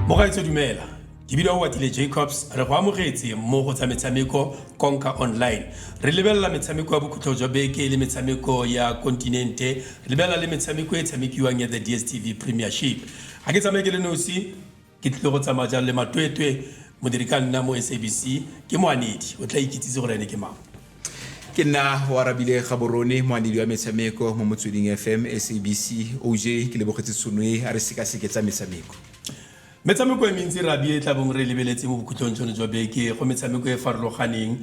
mogaetso dumela ke bile o watile jacobs re go amogetse mo go tsa metshameko conka online re lebelela metshameko ya bokhutlho jwa beke le metshameko ya kontinente re lebelela le metshameko e tshamekiwang ya the dstv premiership ga ke tsamaye ke le nosi Ke tlile go tsamaya jang le matwetwe modiri ka nna mo SABC ke moanedi o tla ikitsise gore ene ke mang. Ke nna Oarabile Gaborone, moanedi wa metshameko mo Motsweding FM SABC. OJ ke lebogetse tshono e, a re sekaseke tsa metshameko. Metshameko e mentsi Rabie e tla bong re e lebeletse mo bokhutlong jono jwa beke go metshameko e farologaneng.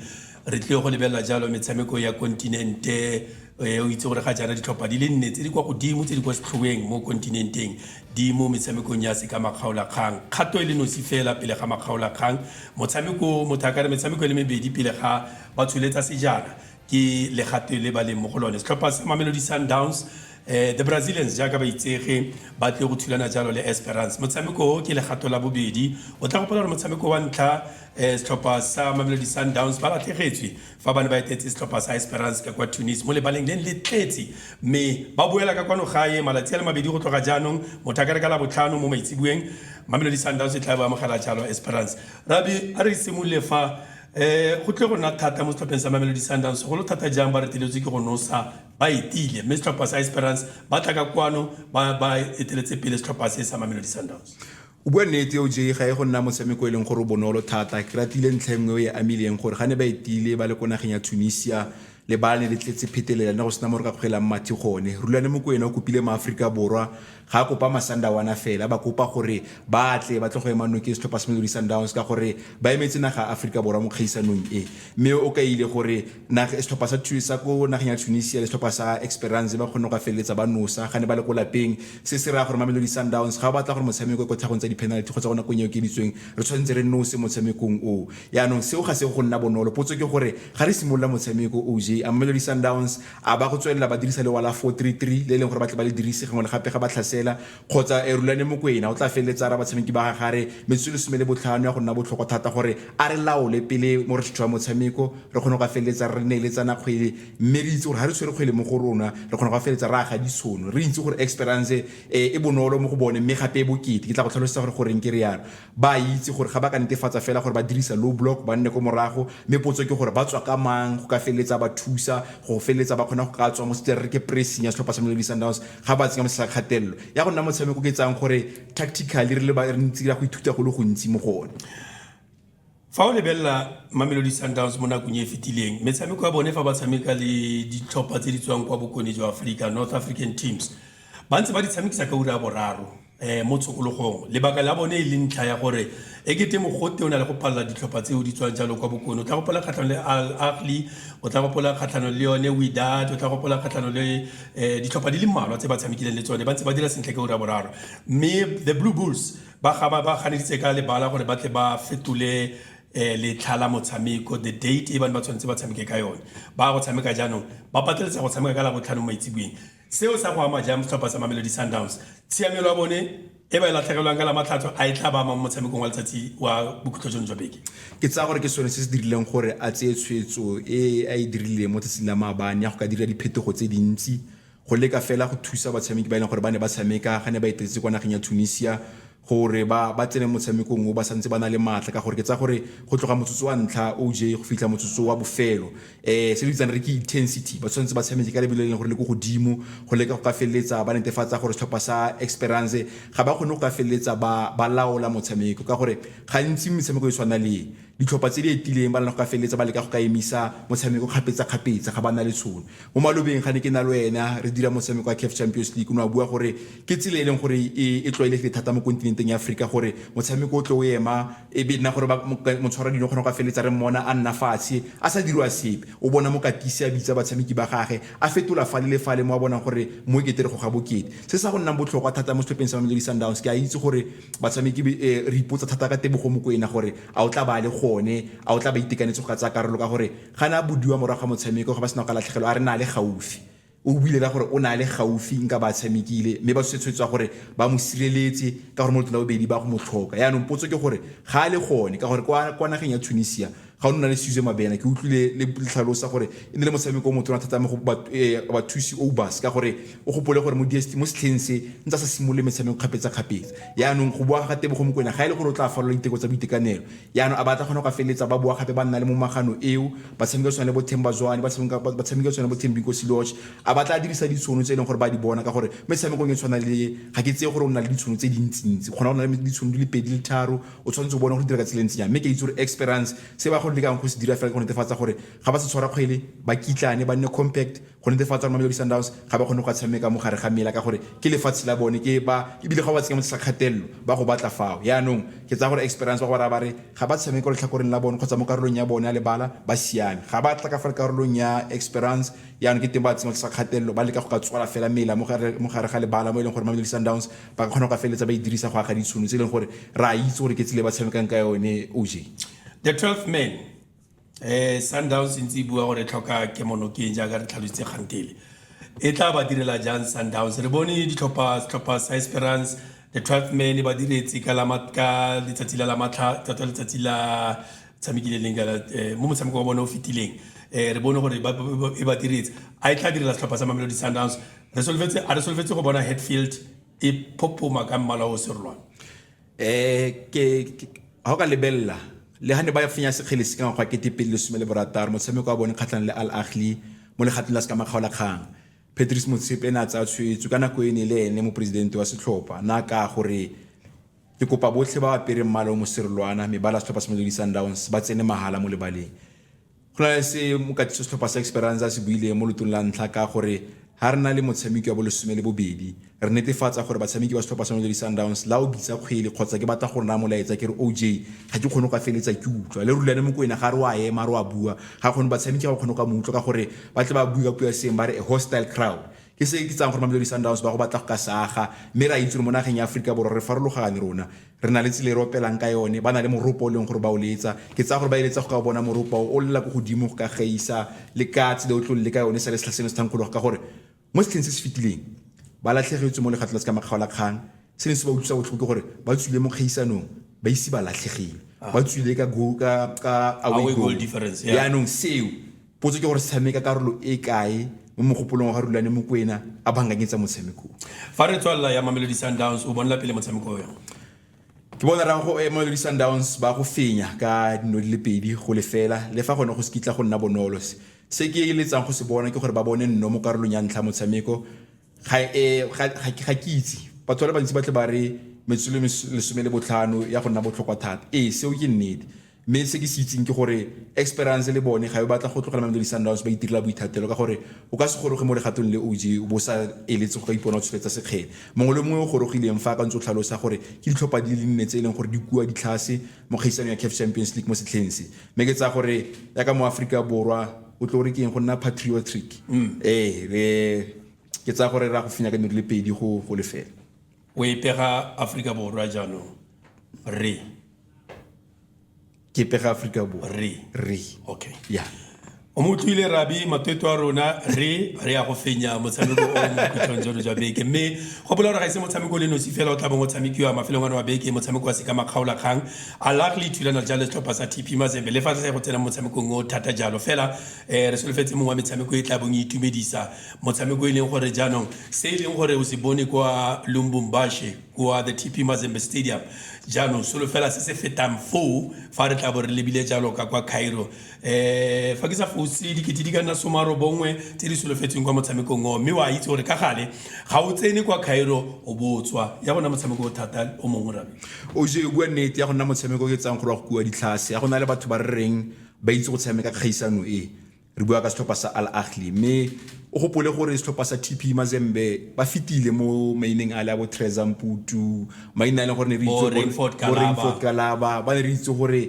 Re tlile go lebelela jalo metshameko ya kontinente e o itse gore ga jaana ditlhopha di le nne tse di kwa godimo tse di kwa setlhoeng mo kontinenteng di mo metshamekong ya se ka makgaolakgang kgato e le nosi fela pele ga makgaolakgang motshameko motho a kare metshameko e le mebedi pele ga ba tsholetsa sejana ke legato le ba leng mo go lone setlhopha sa mamelodi sundowns eh, the brazilians jaaka ba itsege ba tle go thulana jalo le esperance motshameko o ke legato la bobedi o tla gopola gore motshameko wa ntlha Setlhopha sa Mamelodi Sundowns ba latlhegetswe fa ba ne ba etetse setlhopha sa Esperance ka kwa Tunis mo lebaleng le le tletse mme ba boela ka kwano gae malatsi a le mabedi go tloga jaanong motho a ka re ka labotlhano mo maitseboeng Mamelodi Sundowns e tla bo amogela jalo Esperance. Rabi a re simolole fa um go tle go nna thata mo setlhopheng sa Mamelodi Sundowns segolo thata jang ba reteletswe ke go nosa ba etile mme setlhopha sa Esperance ba tla ka kwano ba eteletse pele setlhopha se sa Mamelodi Sundowns. O bua nnete OJ, ga e go nna motshameko e leng gore o bonolo thata. Ke ratile ntlha e nngwe e e amileng gore ga ne ba etile ba le ko nageng ya Tunisia, lebala ne le tletse phetelela ne go sena mo re ka kgwelang mathe gone. Rulani Mokwena o kopile maAforika Borwa ga a kopa Masandawana fela, a ba kopa gore ba tle ba tle go ema nokeng setlhopha sa Mamelodi Sundowns ka gore ba emetse naga ya Aforika Borwa mo kgaisanong e. Mme o kaile gore setlhopha sa sa ko nageng ya tunisia le setlhopha sa experance ba kgone go ka feleletsa ba nosa ga ne ba le ko lapeng se se raya gore mamelodi sundowns ga o batla gore motshameko e ko tlhagong tsa di-penalty kgotsa go nakong eo ke bitsweng re tshwanetse re nose motshamekong o yaanong seo ga se go nna bonolo potso ke gore ga re simolola motshameko oj a mamelodi sundowns a ba go tswelela ba dirisa lewa la 433 le e leng gore ba tle ba le dirise gangwe le gape ga ba tlhasela kgotsa e rulane mokwena o tla feleletsa a ra batshameki ba gage a re metsotso e lesome le botlhano ya go nna botlhokwa thata gore a re laole pele mo re tshwaya motshameko re kgone go ka feleletsa re neeletsana kgwele mme re itse gore ga re tshwere kgwele mo go rona re kgone go ka feleletsa re aga ditshono re itse gore experience e bonolo mo go bone mme gape e bokete ke tla go tlhalosetsa gore goreng ke re yalo Ba a itse gore ga ba ka netefatsa fela gore ba dirisa low block ba nne ko morago, mme potso ke gore ba tswa ka mang go ka feleletsa ba thusa go feleletsa ba kgona go ka tswa mo se re ke pressing ya setlhopha sa Mamelodi Sundowns ga ba tsenya mo tlasa kgatelelo. Ya go nna motshameko ke tsayang gore tactically re le ba re ntse ra go ithuta go le gontsi mo go one. Fa o lebelela Mamelodi Sundowns mo nakong e e fetileng, metshameko ya bone fa ba tshameka le ditlhopha tse di tswang kwa bokone jwa Aforika, North African teams, ba ntse ba di tshamekisa ka ura ya boraro um mo tshokologong. Lebaka la bone e le ntlha ya gore e kete mogote o na le go palela ditlhopha tseo di tswang jalo kwa bokone. O tla gopola kgatlhanong le Al Ahly, o tla gopola kgatlhanong le yone Wydad, o tla gopola kgatlhanong le um ditlhopha di le mmalwa tse ba tshamekileng le tsone, ba ntse ba dira sentle ka ura ya boraro. Mme the Blue Bulls, Ba ga ba ganeditse ka lebala gore ba tle ba fetole letlha la motshameko, the date e ba ne ba tshwanetse ba tshameke ka yone. Ba ya go tshameka jaanong, ba pateletsa go tshameka ka Labotlhano maitseboeng. Seo sa go ama jang setlhopha sa Mamelodi Sundowns? Tshiamelo ya bone e ba e latlhegelwang ka Lamatlhatso a e tla ba ama mo motshamekong wa letsatsi wa bokhutlo jono jwa beke? Ke tsaya gore ke sone se se dirileng gore a tseye tshwetso e a e dirileng mo tsatsing la maabane ya go ka dira diphetogo tse dintsi go leka fela go thusa batshameki ba e leng gore ba ne ba tshameka ga ne ba etetse kwa nageng ya tunisia gore ba ba tsene motshamekong o ba santse ba na le maatla ka gore ke tsa gore go tloga motsotso wa ntlha oj go fitlha motsotso wa bofelo um se re bitsang re ke intensity ba tshwanetse ba tshameke ka lebelo e leng gore le ko godimo go leka go ka feleletsa ba netefatsa gore setlhopha sa experience ga ba kgone go ka feleletsa ba laola motshameko ka gore gantsi metshameko e tshwana le Ditlhopha tse di etileng ba ne go ka feleletsa ba leka go ka emisa motshameko kgapetsakgapetsa ga ba na le tshono. Mo malobeng ga ne ke na le wena re dira motshameko wa CAF Champions League o ne wa bua gore ke tsela e e leng gore e e tlwaelegile thata mo kontinenteng ya Aforika gore motshameko o tle o ema e be nna gore motshwara dino kgona go ka feleletsa re mmona a nna fatshe a sa dirwa sepe o bona mokatisi a bitsa batshameki ba gage a fetola fale le fale mo a bonang gore mo e kete re goga bokete. Se sa go nnang botlhokwa thata mo setlhopheng sa Mamelodi Sundowns ke a itse gore Batshameki eh, re ipotsa thata ka Tebogo Mokwena gore a o tla ba le gone, a o tla ba itekanetse go ka tsaya karolo ka gore ga ne a bodiwa morago ga motshameko ga ba sena go ka latlhegelwa a re na le gaufi. O buile ka gore o na le gaufi nka ba tshamekile mme ba tshwetshwetswa gore ba mo sireletse ka gore mo letlong la bobedi ba go mo tlhoka. Yaanong potso ke gore ga a le gone ka gore kwa nageng ya Tunisia ga o nna le Suze Mabena ke utlwile le tlhalosa gore e ne le motshameko o motona thata mo go eh, bathusi obas ka gore o gopole gore mo DST mo setlheng se ntse sa simolole metshameko kgapetsa-kgapetsa yaanong go boa ga tebogo mokwena ga e le gore o tla falola diteko tsa boitekanelo yaanong a batla kgona go feleletsa ba boa gape ba nna le mo magano eo ba tshameka tshwana le bothemba jwane ba tshameka tshwana le bothembinko seloch a batla a dirisa ditshono tse e leng gore ba di bona ka gore metshamekong e tshwana le ga ke tseye gore o nna le ditshono tse dintsintsi kgona go na le ditshono di le pedi le tharo O tshwanetse o bone go dira ka tsela e ntseng jang, mme ke a itse gore Esperance se ba go lekang go se dira fela ke go netefatsa gore ga ba se tshwara kgwele ba kitlane ba nne compact go netefatsa gore Mamelodi Sundowns ga ba kgone go ka tshameka mo gare ga mela ka gore ke lefatshe la bone ke ba ebile ga ba tsenya mo tlasa kgatelelo ba go batla fao yaanong ke tsaya gore Esperance ba go raya ba re ga ba tshameka letlhakoreng la bone kgotsa mo karolong ya bone ya lebala ba siame ga ba tla ka fa karolong ya Esperance yaanong ke teng ba tsenya tlasa kgatelelo ba leka go ka tswala fela mela mo gare ga lebala mo e leng gore Mamelodi Sundowns Ba ka kgona go ka feleletsa ba e dirisa go aga ditshono tse e leng gore re a itse gore ke tsile ba tshamekang ka yone oj The 12th man eh Sundowns e ntse e bua gore e tlhoka kemonokeng jaaka re tlhalositse kgantele e tla ba direla jang Sundowns re bone ditlhopha setlhopha sa Esperance the 12th man e ba diretse ka la mat- ka letsatsi la la matlha tota letsatsi la tshamekile leng ka la- eh, mo motshameko wa bone o fetileng eh re bone gore ba- ba- ba- e ba diretse a e tla direla setlhopha sa Mamelodi Sundowns Re solofetse a re solofetse go bona Hatfield e phopoma ka mmala o serolwana. Eh ke ha o ka lebella le ha ne ba fenya sekgele se ka ngwaga ke tepedi le some le borataro motshameko wa bone kgatlhanong le Al Ahly mo legatong la se ka makgaola kgang. Patrice Motsepe ene a tsaya tshwetso ka nako ene le ene moporesidente wa setlhopha na ka gore ke kopa botlhe ba apere mmala o moserolwana mebala setlhopha sa Mamelodi Sundowns ba tsene mahala mo lebaleng. Go na le se mokatiso setlhopha sa Esperanza se buileng mo lotong la ntlha ka gore ha re na le motshameki wa bolesome le bobedi re netefatsa gore batshameki ba setlhopha sa Mamelodi Sundowns la o bitsa kgwele kgotsa ke batla go naya molaetsa ke re OJ ga ke kgone go ka feletsa ke utlwa le rulane mo kwena ga re wa ema re wa bua ga kgone batshameki ga ba kgone go ka mo utlwa ka gore ba tle ba bue ka puo ya seng ba re a hostile crowd ke se ke tsang gore Mamelodi Sundowns ba go batla go ka saga mme re a itse gore mo nageng ya Aforika Borwa re farologane rona Re na le tsela e re opelang ka yone. Ba na le moropa o e leng gore ba o letsa. Ke tsaya gore ba eletsa go ka o bona moropa o, o lela ko godimo go ka gaisa le ka tsela o tlo le ka yone sa le setlha seno se thankgologa. Ka gore mo setlheng se se fetileng ba latlhegetswe mo legato la se ka makgaolakgang. Se ne se ba utlwisa botlhoko ke gore ba tswile mo kgaisanong ba ise ba latlhegile. Ba tswile ka go, ka, ka away goal. Yaanong seo Potso ke gore tshameka karolo e kae mo mogopolong wa ga Rulane Mokwena a bankanyetsa motshameko o? Fa re tswalela ya Mamelodi Sundowns, o bonela pele motshameko o yang? Ke bona raya go Mamelodi Sundowns ba go fenya ka dino di le pedi go lefela le fa gone go se kitla go nna bonolo. Se ke eletsang go se bona ke gore ba bone nno mo karolong ya ntlha ya motshameko, ga e ga ga ke itse batho ba le bantsi ba tle ba re metsotso le mes- lesome le botlhano ya go nna botlhokwa thata ee seo ke nnete mme se ke se itseng ke gore experience le bone ga e batla go tlogela mamelodi sundowns ba itirela boithatelo ka gore o ka se goroge mo legatong le og o bo sa eletse go ka ipona o tsholetsa sekgele mongwe le mongwe o gorogileng fa a ka ntse o tlhalosa gore ke ditlhopha di le nne tse e leng gore di kua ditlhase mo kgaisanong ya caf champions league mo setlheng se mme ke tsaya gore yaka mo aforika borwa o tlo re ke eng go nna patriotic ee re ke tsaya gore ra go fenya ka meru le pedi go go lefela o e pega aforika borwa jaanong re ke pega aforika borwa re re okay ya o mo utlwile rabi matweto a rona re re ya go fenya motshameko o mo khutlhong jono jwa beke mme go bola gore ga ise motshameko o le nosi fela o tla bong o tshamekiwa mafelong ano wa beke motshameko wa seka makgaolakgang Al Ahly e thulana jang le setlhopha sa TP Mazembe le fa re sa ye go tsena mo motshamekong o thata jalo? Fela um re solofetse mongwe wa metshameko e tla bong e itumedisa, motshameko e leng gore jaanong se e leng gore o se bone kwa Lumbumbashe kwa the TP Mazembe Stadium, jaanong solofela se se fetang foo fa re tla bo re lebile jalo ka kwa Cairo. um fa ke sa fose dikete di ka nna some a robongwe tse di solofetsweng kwa motshamekong oo mme wa itse gore ka gale ga o tsene kwa cairo o botswa ya go nna motshameko o thata o mongwe rabe oje o bua nnete ya go nna motshameko ke tsang gore wa go kua ditlhase ya go na le batho ba re reng ba itse go tshameka kgaisano e re bua ka setlhopha sa al ahli mme o gopole gore setlhopha sa tp mazembe ba fetile mo maineng a le a bo trezamputu maina a e leng gore ne re Bo itse gore- Rainford bo Kalaba. Rainford kalaba ba ne re itse gore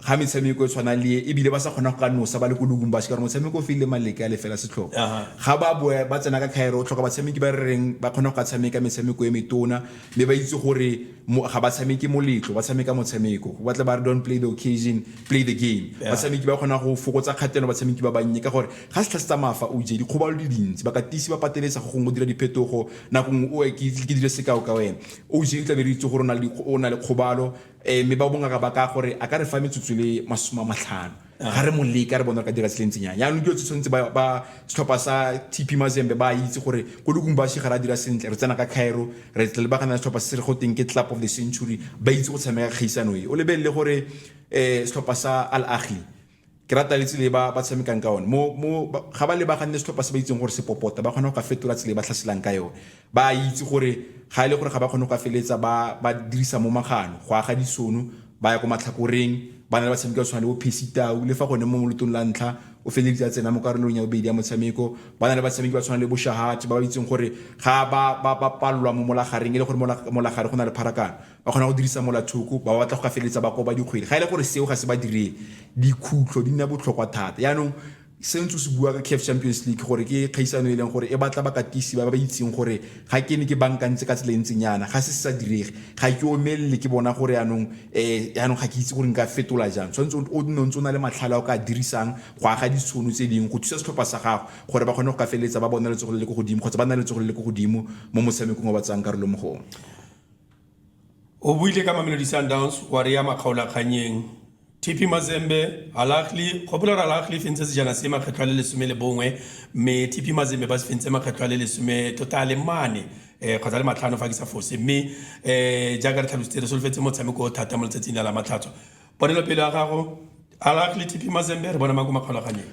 ga metshameko e tshwana le e, ebile ba sa kgona go ka nosa ba le ko lubumbashi ka gore motshameko o file maleke a lefela setlhogo ga ba boe ba tsena ka khaero o tlhoka batshameki ba re reng ba kgona go ka tshameka metshameko e metona mme ba itse gore ga ba tshameke moletlo ba tshameka motshameko go batla ba re don't play the occasion play the game batshameki ba kgona go fokotsa kgatelo batshameki ba bannye ka gore ga setlha se tsamaya fa o je dikgobalo di dintsi bakatisi ba pateletsa go gongwe go dira diphetogo nako nngwe o ke dire sekao ka wena o je o tla be re itse gore o na le kgobalo Ee, mme ba bongaka ba ka gore a ka re fa metsotso le masome a matlhano ga re mo leka re bona re ka dira se le ntsenyang yaanong dilo tse tshwanetse ba ba setlhopha sa tp mazembe ba itse gore ko lukumbashi ga re a dira sentle re tsena ka cairo re tle lebagana le setlhopha se se re go teng ke club of the century ba itse go tshameka kgaisano e o lebelele gore um setlhopha sa al ahi ke rata le tsile ba ba tshamekang ka one mo mo ga ba lebaganne setlhopha se ba itseng gore se popota ba kgona go ka fetola tsile ba tlhaselang ka yone ba itse gore ga e le gore ga ba kgone go ka feletsa ba ba dirisa mo magano go aga disono ba ya ko matlhakoreng ba na le batshameki ba tshwana le bo phesitau le fa gone mo molotong la ntlha o feleditse a tsena mo karolong ya bobedi ya motshameko ba na le batshameki ba tshwana le boshahati ba ba itseng gore ga ba ba ba palelwa mo molagareng e le gore molagare go na le pharakano Ba kgona go dirisa molathoko, ba batla go ka feleletsa ba koba dikgwele. Ga e le gore seo ga se ba diree, dikhutlo di nna botlhokwa thata. Yaanong se ntse o se bua ka CAF Champions League gore ke kgaisano e leng gore e batla bakatisi ba ba itseng gore ga ke ne ke bankantse ka tsela e ntseng yana, ga se se sa direge. Ga ke omelele ke bona gore yaanong um yaanong ga ke itse gore nka fetola jang. Tshwanetse o nne o ntse o na le matlhale a o ka a dirisang go aga ditshono tse dingwe go thusa setlhopha sa gago gore ba kgone go ka feleletsa ba bona letsogo le le ko godimo kgotsa ba nna le letsogo le le ko godimo mo motshamekong o ba tsayang karolo mo go one. O buile ka Mamelodi Sundowns wa re ya makgaolakgannyeng. TP Mazembe, Al Ahly, gopola gore Al Ahly e fentse sejana se makgetlo a le lesome le bongwe mme TP Mazembe ba se fentse makgetlo a le lesome tota a le mane um kgotsa le matlhano fa ke sa fose mme um jaaka re tlhalositse re solofetse motshameko o thata mo letsatsing la lamatlhatso ponelopele ya gago Al Ahly, TP Mazembe re bona mang ko makgaolakgannyeng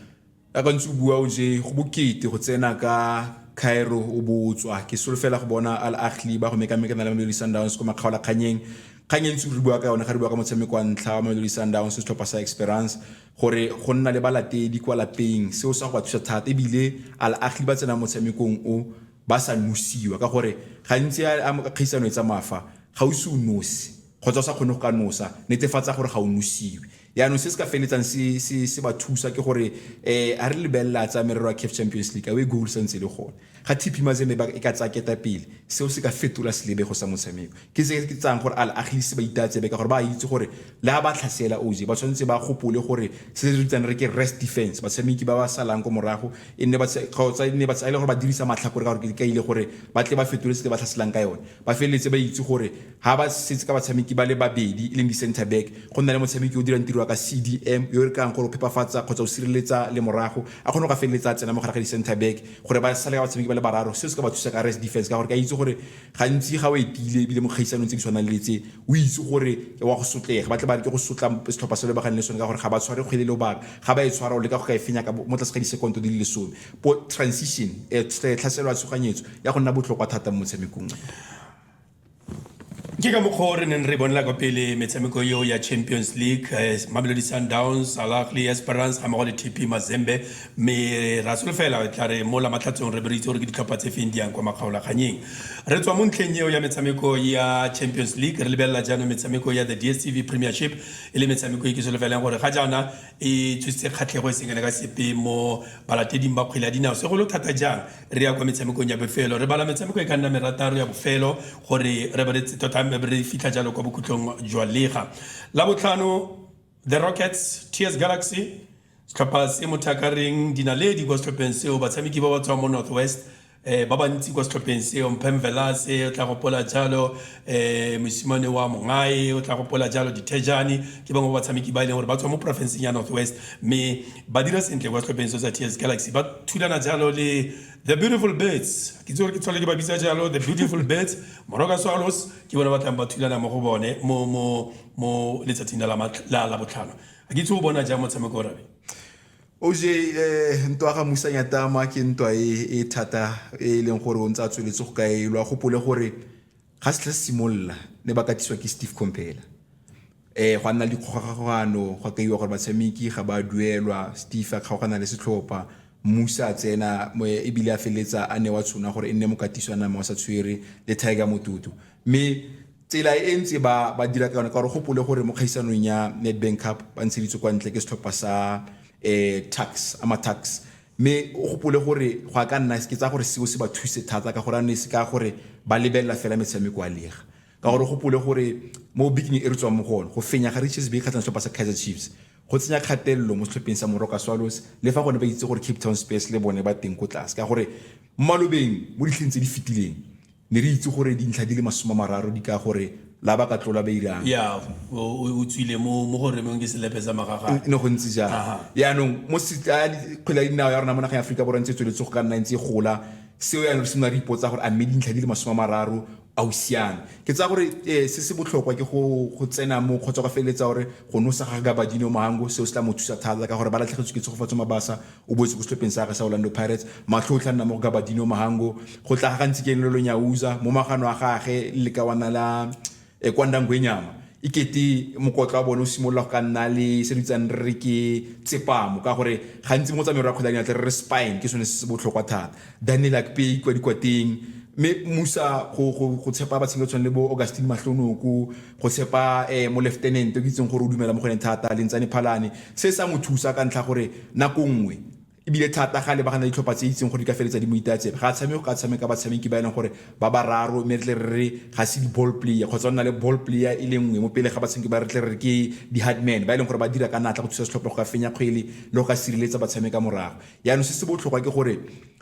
ya ka ntse o bua o je go bokete go tsena ka cairo o bo o tswa ke solofela go bona al ahli ba go mekamekana le mamelodi sundowns ko makgaolakganyeng kgang e ntse re bua ka yone ga re bua ka motshameko wa ntlha wa mamelodi sundowns setlhopha sa experience gore go nna le balatedi kwa lapeng seo sa go ba thusa thata ebile al ahli ba tsena motshamekong o ba sa nosiwa ka gore gantsi a kgaisano e tsamafa ga o se o nosi kgotsa o sa kgone go ka nosa netefatsa gore ga o nosiwe yaanong se se ka feletsang se ba thusa ke gore um a re lebelela tsa merero ya caf champions league awe goal sa ntse le gone ga tp mazembe e ka tsaya keta pele seo se ka fetola selebego sa motshameko ke se ke tsayang gore al agisi ba itatsebe ka gore ba itse gore le a ba tlhasela oje ba tshwanetse ba gopole gore se se ritsang re ke rest defense batshameki ba ba salang ko morago e nne kgotsa e nne ba tsaya e le gore ba dirisa matlhakore ka gore ke ka ile gore ba tle ba fetole se ba tlhaselang ka yone ba feleletse ba itse gore Ha ba setse ka batshameki ba le babedi e leng di-centre back, go nna le motshameki yo o dirang tiro ya ka CDM yo e re kayang gore o phepafatsa kgotsa o sireletsa lemorago, a kgone go ka feleletsa a tsena mo gare ga di-centre back gore ba sale ka batshameki ba le bararo. Seo se ka ba thusa ka rest defense ka gore ke a itse gore gantsi ga o etile ebile mo kgaisanong tse di tshwanang le tse, o itse gore o a go sotlega. Ba tle ba leke go sotla setlhopha se o lebaganeng le sone ka gore ga ba tshware kgwele lobaka. Ga ba e tshwara, o leka go ka e fenya ka mo tlase ga disekonto di le lesome. Bo transition, tlhaselo ya tshoganyetso, ya go nna botlhokwa thata mo motshamekong o. ke ka mokgwa o re neng re bonela kwa pele metshameko eo ya champions league eh, mamelodi sundowns alagli esperance ga mmogo le tp mazembe mme ra solofela e tla re mo lamatlhatsong re bereitse gore ke ditlhopha tse feng di yang kwa makgaolakganyeng re tswa mo ntlheng eo ya metshameko ya champions league re lebelela jaanong metshameko ya the dstv premiership e le metshameko e ke solofelang gore ga jaana e tsositse kgatlhego e sengele ka sepe mo balateding ba kgwele ya dinao segolo thata jang re ya kwa metshamekong ya bofelo re bala metshameko e ka nna merataro ya bofelo gore re be tota re fitlha jalo kwa bokhutlong jwa lega la botlhano the rockets ts galaxy setlhopha se motho a ka reng dinaledi kwa setlhopheng seo batshameki ba ba tswang mo northwest eh ba bantsi kwa setlhopheng seo mphemvelase o tla gopola jalo eh mosimane wa mongae o tla gopola jalo dithejane ke bangwe ba batshameki ba e leng gore ba tswa mo porofenseng ya northwest mme ba dira sentle kwa setlhopheng se sa ts galaxy ba thulana jalo le the beautiful birds ke tse gore ke tlhole ke ba bitsa jalo the beautiful birds moroka swallows ke bone ba tlang ba thulana mo go bone mo mo mo letsatsing la la botlhano a ke itse o bona jang motshameko o rabe OJ ntwa ga Musa Nyatama ke ntwa e e thata e e leng gore o ntse a tsweletse go ka elwa gopole gore ga setlha se simolola ne ba katiswa ke Steve Compela eh go nna le dikgogakgogano go kaiwa gore batshameki ga ba duelwa Steve a kgaogana le setlhopha Musa a tsena mo ebile a feletsa a ne wa tshona gore e nne mokatiswa nama wa sa tshwere le Tiger Motutu mme tsela e ntse ba ba dira ka yone ka gore gopole gore mo kgaisanong ya Nedbank Cup ba ntsheditswe kwa ntle ke setlhopha sa eh tax ama tax mme o gopole gore go a ka nna ke tsa gore seo se ba thuse thata ka gore a ne se ka gore ba lebelela fela metshameko a lega ka gore gopole gore mo biking e re tswang mo go one go fenya ga Richards Bay kgatlhang setlhopha sa Kaizer Chiefs go tsenya kgatelelo mo setlhopheng sa Moroka Swallows le fa gone ba itse gore Cape Town Spurs le bone ba teng ko tlase ka gore mo malobeng mo ditlheng tse di fetileng Ne re itse gore dintlha di le masome a mararo di ka gore la ba ka tlola ba irang. Ya, o, o, o tswile mo, mo go remeng ke selepe sa magagane. Ne go ntse jalo. Aha. Yaanong, mo se, a, kgwele ya dinao ya rona mo nageng ya Aforika Borwa e ntse e tsweletse go ka nna e ntse e gola. Seo yaanong re simolola re ipotsa gore a mme dintlha di le masome a mararo a o siame. Ke tsaya gore eh, se se botlhokwa ke go, go tsena mo kgotsa go feleletsa gore go nosa ga Gabadinho Mhango seo se tla mo thusa thata ka gore ba latlhegetswe ke Tshegofatso Mabasa o boetse ko setlhopheng sa gagwe sa orlando pirates matlho o tla nna mo go gabadino mahango go tla ga gantsi ke lelo nyauza mo magano a gage le ka wana la eh, kwandangwenyama e kete mokotlo wa bone o simolola go ka nna le se re itsang re re ke tsepamo ka gore gantsi mo tsamayo ra kgwele ya dinatla re re spine ke sone se se botlhokwa thata Danelak Pay kwa dikwateng, mme Musa go go go tshepa batshameki ba tshwana le bo Augustine Mahlonoko, go tshepa eh mo lieutenant o ke itseng gore o dumela mo go ene thata Lintsane Phalane, se sa mo thusa ka ntlha gore nako nngwe ebile thata ga lebagana le ditlhopha tse itseng gore di ka feletsa di mo itatsela ga tshameke go ka tshameka batshameki ba e leng gore ba bararo mme re tle re re ga se di-ball player kgotsa o nna le ball player e le nngwe mo pele ga batshameki ba re tle re ke di-hardman ba e leng gore ba dira ka natla go thusa setlhopha go ka fenya kgwele le go ka sireletsa batshameka morago yaanong se se botlhokwa ke gore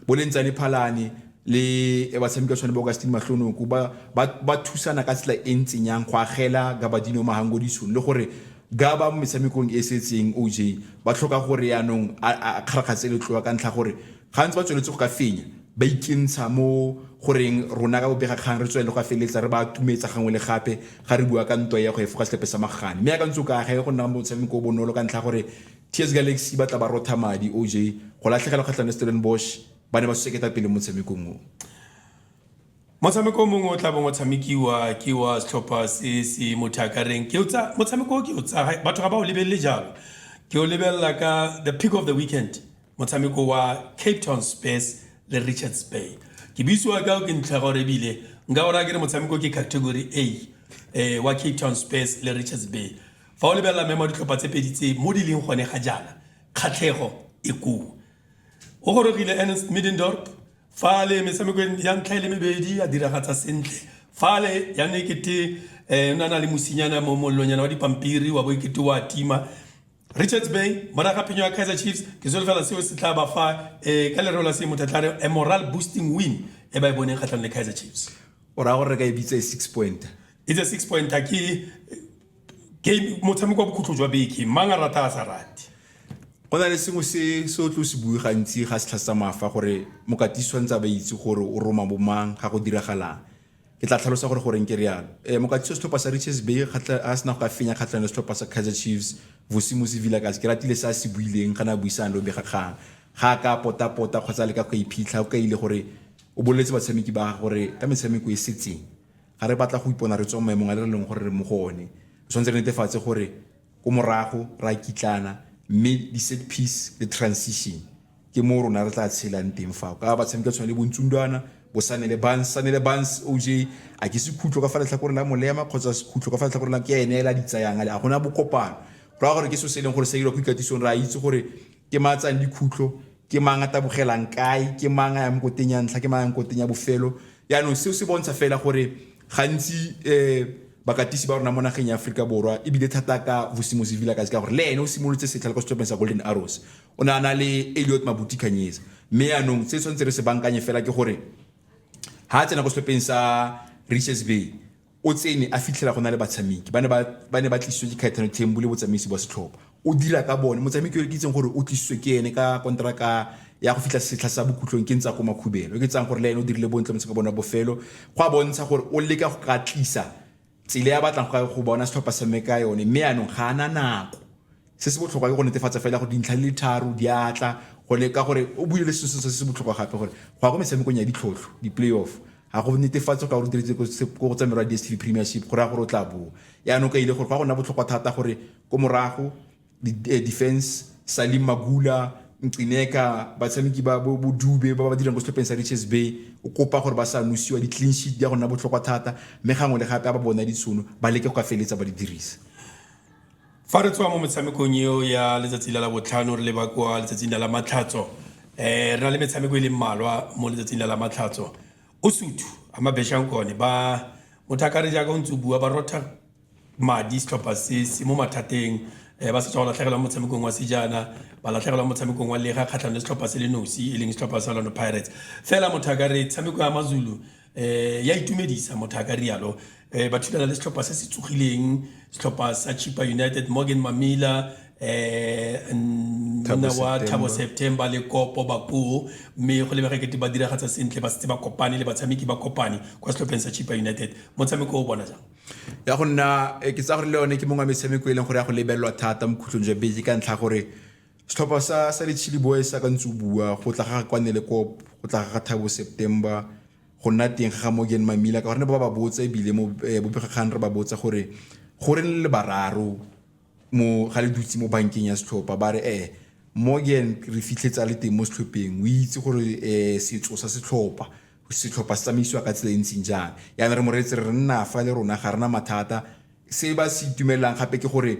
boleng tsa lephalane le batshameki ba tshwane ba augustine mahlonoko ba, ba, ba thusana ka tsela e ntseng yang go agela gabadino mahangodisong le gore ga ba mo metshamekong e setseng oj ba tlhoka gore yaanong a kgarakgatse letloa ka ntlha gore gantsi ba tsweletse go ka fenya ba ikentsha mo goreng rona ka bobega kgang re tswelele go a feleletsa re ba tumetsa gangwe le gape ga re bua ka ntwa ya go efoga setlhepe sa magane mme ya ka ntse o ka ga e go nna motshameko o bonolo ka ntlha gore TS Galaxy e batla ba rotha madi OJ go latlhegelwa kgatlhang le Stellenbosch ba ne ba suse ketapele mo motshamekong o. Motshameko o mongwe o tla bong o tshamekiwa ke wa setlhopha se se mo thiakareng. Ke o tsa motshameko o ke o tsa batho ga ba o lebelele jalo. Ke o lebelela ka the pick of the weekend motshameko wa Cape Town Spurs le Richards Bay. Ke buisiwa ka o ke ntlha gore ebile nka o raya ke re motshameko ke category A eh, wa Cape Town Spurs le Richards Bay. Fa o lebelela memo a ditlhopha tse pedi tse mo di leng gone ga jaana, kgatlhego e koo. O gorogile Ernst Middendorp fa le metshamekong ya ntlha e le mebedi a diragatsa sentle fale ya ne kete eh, na na le mosinyana mo mollonyana wa dipampiri wa bo kete wa tima richards bay moraga phenyo ya kaizer chiefs ke solofela seo se tla ba fa eh, ka lereo la se motho a tla re a moral boosting win e ba e boneng kgatlhanong le kaizer chiefs o raya gore re ka e bitsa e six pointer it's a six pointer ke motshameko wa bokhutlo jwa beke mang a rata a sa rate go na le sengwe se se o tlo se bue gantsi ga setlha sa mafa gore mokati tshwanetse a ba itse gore o roma bomang ga go diragalang ke tla tlhalosa gore goreng ke rialo um eh, mokati setlhopha sa riches bay a sena go ka fenya kgatlhano setlhopha sa kaizer chiefs vosimosi villakas ke ratile se a se buileng ga ne a buisang le obega kgang ga a ka potapota kgotsa le ka go iphitlha o kaile gore o boleletse batshameki ba gore ka metshameko e setseng Ga re batla go ipona re tswa mo maemong a re leng gore re mo go one. Re tshwanetse re netefatse gore ko morago re a kitlana mme di-set piece le transition ke mo rona re tla tshelang teng fao ka batshameka tshwana le bontsundwana bosane le bans sane le bans oj a ke sekhutlo ka fa letlhakore la molema kgotsa sekhutlo ka fa letlhakore la ke ene ela di tsayang ale a gona bokopano go raya gore ke so se e leng gore sa dira go ikatisong re a itse gore Ke mang a tsayang dikhutlo? Ke mang a tabogelang kae? Ke mang a yang koteng ya ntlha? Ke mang a yang koteng ya bofelo? Yaanong seo se bontsha fela gore gantsi um bakatisi ba rona mo nageng ya Aforika Borwa ebile thata ka Vusimozi Vilakazi ka gore le ene o simolotse setlha le kwa setlhopheng sa Golden Arrows o ne a na le Elliot Mabuti Khanyezi mme yaanong se tshwanetse re se bankanye fela ke gore ha a tsena kwa setlhopheng sa Richards Bay O tsene a fitlhela go na le batshameki ba ne ba ba ne ba tlisitswe ke Caetano Thembu le botsamaisi bwa setlhopha. O dira ka bone, motshameki yo ke itseng gore o tlisitswe ke ene ka konteraka ya go fitlha setlha sa bokhutlong ke Ntsako Makhubelo. Yo ke tsang gore le ene o dirile bontle motshameko wa bone wa bofelo. Go a bontsha gore o leka go ka tlisa tsela ya batlang go bona setlhopha se tshameka ka yone mme yanong ga ana nako. Se se botlhokwa ke go netefatsa fela gore dintlha di le tharo di a tla gone ka gore o buile le se se se botlhokwa gape gore go ya ko metshamekong ya ditlhotlho di-playoff ga go netefatse go ka gore diretse ko go tsa merwa DSTV Premiership go raya gore o tla boa yaanong ka ile gore go ya go nna botlhokwa thata gore ko morago eh, defense Salim Magula Ncineka batshameki ba bo bo Dube ba ba dirang ko setlhopheng sa Richards Bay o kopa gore ba sa nosiwa di-clean sheet di ya go nna botlhokwa thata mme gangwe le gape a ba bona ditshono ba leke go ka feleletsa ba di dirisa Fa re tswa mo metshamekong eo ya letsatsi la labotlhano re leba kwa letsatsing la lamatlhatso, re na le metshameko e leng mmalwa mo letsatsing la lamatlhatso. Usuthu, Amabesha Nkone ba Mothakare jaaka o ntse o bua ba rotha madi setlhopha se se mo mathateng ba setswa go latlhegelwa mo motshamekong wa sejana, ba latlhegelwa mo motshamekong wa lega kgatlhanong le setlhopha se le nosi e leng setlhopha sa Orlando Pirates. Fela Mothakare tshameko ya maZulu, Eh, ya itumedisa motho a ka rialo eh, ba thulana le setlhopha se se tsogileng setlhopha sa chipa united morgan mamila eh, monna wa thabo september le kopo bakoo mme go lebega kete ba diragatsa sentle ba setse ba kopane le batshameki ba kopane kwa setlhopheng sa chipa united motshameko o bona jang ya go nna eh, ke tsa gore le yone ke mongwe wa metshameko e leng gore ya go lebelelwa thata mo khutlong jwa beke ka ntlha gore Setlhopha sa sa di-Chilli Boys sa ka ntse o bua go tla ga kwane le kop go tla ga Thabo September go nna teng ga Morgan Mamila ka gore ne ba ba botsa ebile mo eh, bopegakgang re ba botsa gore go re le bararo mo ga le dutse mo bankeng ya setlhopha ba re eh Morgan re fitlhetsa le teng mo setlhopheng o itse gore eh setso sa setlhopha setlhopha se tsamaisiwa ka tsela e ntseng jang yana re mo reetse re nna fa le rona ga rena mathata se ba se itumelang gape ke gore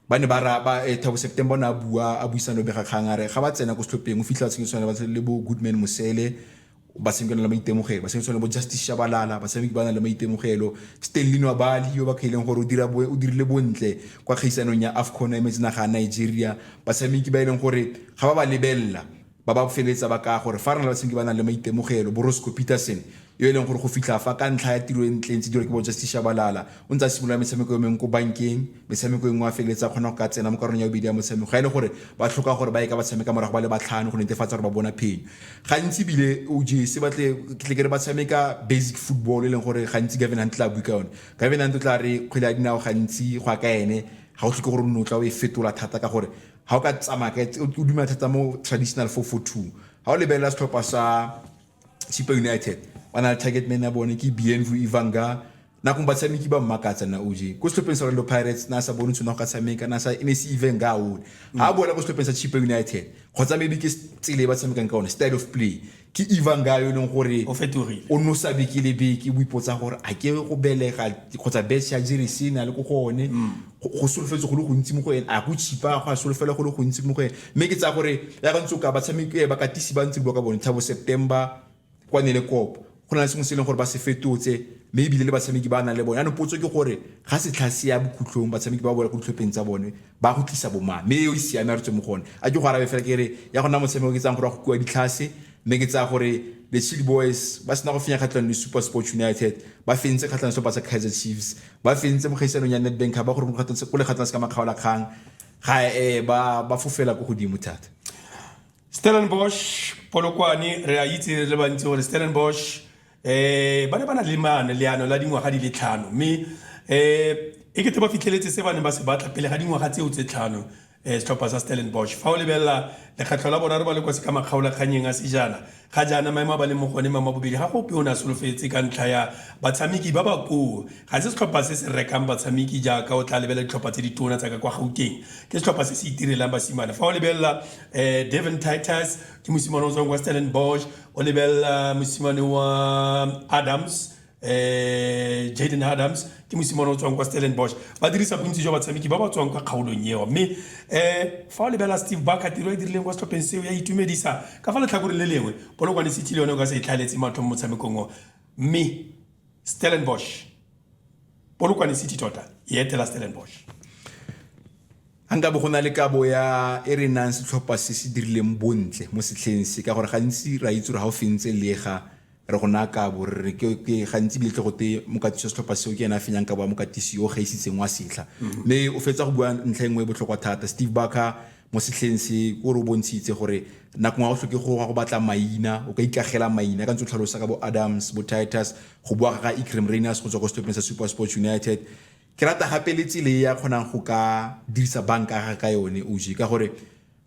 Ba ne ba raba Thabo September o ne a bua a buisana le bobegakgang a re ga ba tsena ko setlhopheng o fitlhela tshenyo tshwana le bo Goodman Mosele batshameki ba na le maitemogelo batshameki tshwana le bo Justice Shabalala batshameki ba na le maitemogelo Stanley Nwabali yo ba kgaileng gore o dira o dirile bontle kwa kgaisanong ya AFCON ya metsi naga ya Nigeria batshameki ba e leng gore ga ba ba lebelela Ba ba feletsa ba kaya gore fa re na le batshameki ba ba nang le maitemogelo, bo Roscoe Peterson, yo e leng gore go fitlha fa ka ntlha ya tiro e ntle e ntse e dirwa ke bo Justice Shabalala, o ntse a simolola metshameko e mengwe ko bankeng, metshameko e nngwe a feleletse a kgona go ka tsena mo karolong ya bobedi ya motshameko ga e le gore ba tlhoka gore ba ye ka ba tshameka morago ba le batlhano go netefatsa gore ba bona phenyo. Gantsi ebile OJ, se ba tle ke tle ke re ba tshameka basic football e leng gore gantsi Gavin Hunt tla bue ka yone. Gavin Hunt o tla re kgwele ya dinao gantsi go ya ka ene ga o tlhoke gore o nne o tla o e fetola thata ka gore Ga o ka tsamaya ka o dumela thata mo traditional 442 ga o lebelela setlhopha sa Chipa United ba na le target man ya bone ke Bienvu Ivanga nakong batshameki ba mmakatsa na oje ko setlhopheng sa Orlando Pirates na sa bone tshone go ka tshameka na sa ne se even ga one ga a boela ko setlhopheng sa Chipa United kgotsa maybe ke tsele ba tshamekang ka one style of play Ke Ivan Ga yo e leng gore o fetogile, o nosa beke le beke o ipotsa gore a ke go belega kgotsa bese ya jere se na le ko go one mm. go solofetse go le gontsi mo go ene a go tshipa go a solofela go le gontsi mo go ene mme ke tsaya gore ya ka ntse o ka batshameki eh, bakatisi ba ntse bua ka bone thabo september kwa ne le kopo go na le sengwe se e leng gore ba se fetotse mme ebile le batshameki ba nang le bone anong potso ke gore ga setlha se ya bokhutlhong batshameki ba bola ko ditlhopheng tsa bone ba go tlisa bomang mme eo e siame a re tswe mo go one a ke go arabe fela ke re ya go nna motshameko ke tsang gore wa go kua ditlhase mme ke tsaya gore the chili boys ba sena go fenya kgatlhang le super sports united ba fentse kgatlhang sepa sa kaizer chiefs ba fentse mo kgaisanong ya netbank ba gore go le kgatlhang se ka makgaola kgang ga e ba ba fofela ko godimo thata stellenbosch polokwane re a itse re le bantsi gore stellenbosch um ba ne ba na le maano leano la dingwaga di le tlhano mme um e kete ba fitlheletse se ba neng ba se batla pele ga dingwaga tseo tse tlhano um setlhopha sa stellenbosch fa o lebelela lekgetlho la boraro ba le kwa se ka makgaolakganyeng a sejana ga jaana maemo a ba leng mo gone maemo a bobedi ga go ope o ne a solofetse ka ntlha ya batshameki ba ba koo ga se setlhopha se se rekang batshameki jaaka o tla lebelela ditlhopha tse di tona tsa ka kwa gauteng ke setlhopha se se itirelang basimane fa o lebelela um devon titus ke mosimane o tswang kwa stellenbosch O lebelela mosimane wa Adams eh Jaden Adams ke mosimane o tswang kwa Stellenbosch ba dirisa bontsi jwa batshameki ba ba tswang kwa kgaolong eo mme eh fa o lebelela Steve Barker tiro e dirileng kwa setlhopheng seo ya itumedisa ka fa letlhakoreng le lengwe Polokwane City le yone o ka se e tlhaeletse matlho mo motshamekong o mme Stellenbosch Polokwane City tota e etela Stellenbosch A nka bo go na le kabo ya e re nang setlhopha se se dirileng bontle mo setlheng se? Ka gore gantsi ra itse gore ga o fentse lega re go naya kabo, re re ke, ke gantsi ebile tle go te mokatisi wa setlhopha seo ke ene a fenyang kabo ya mokatisi yo o gaisitseng wa setlha. Mme o fetsa go bua ntlha e nngwe e botlhokwa thata, Steve Barker, mo setlheng se, o re o bontshitse gore nako nngwe ga o tlhoke go gwa go batla maina, o ka ikagela maina, ka ntse o tlhalosa ka bo Adams, bo Titus, go boa ga ga Iqrim Rayners go tswa ko setlhopheng sa SuperSport United, Ke rata gape le tsile e a kgonang go ka dirisa banka ya gage ka yone OJ ka gore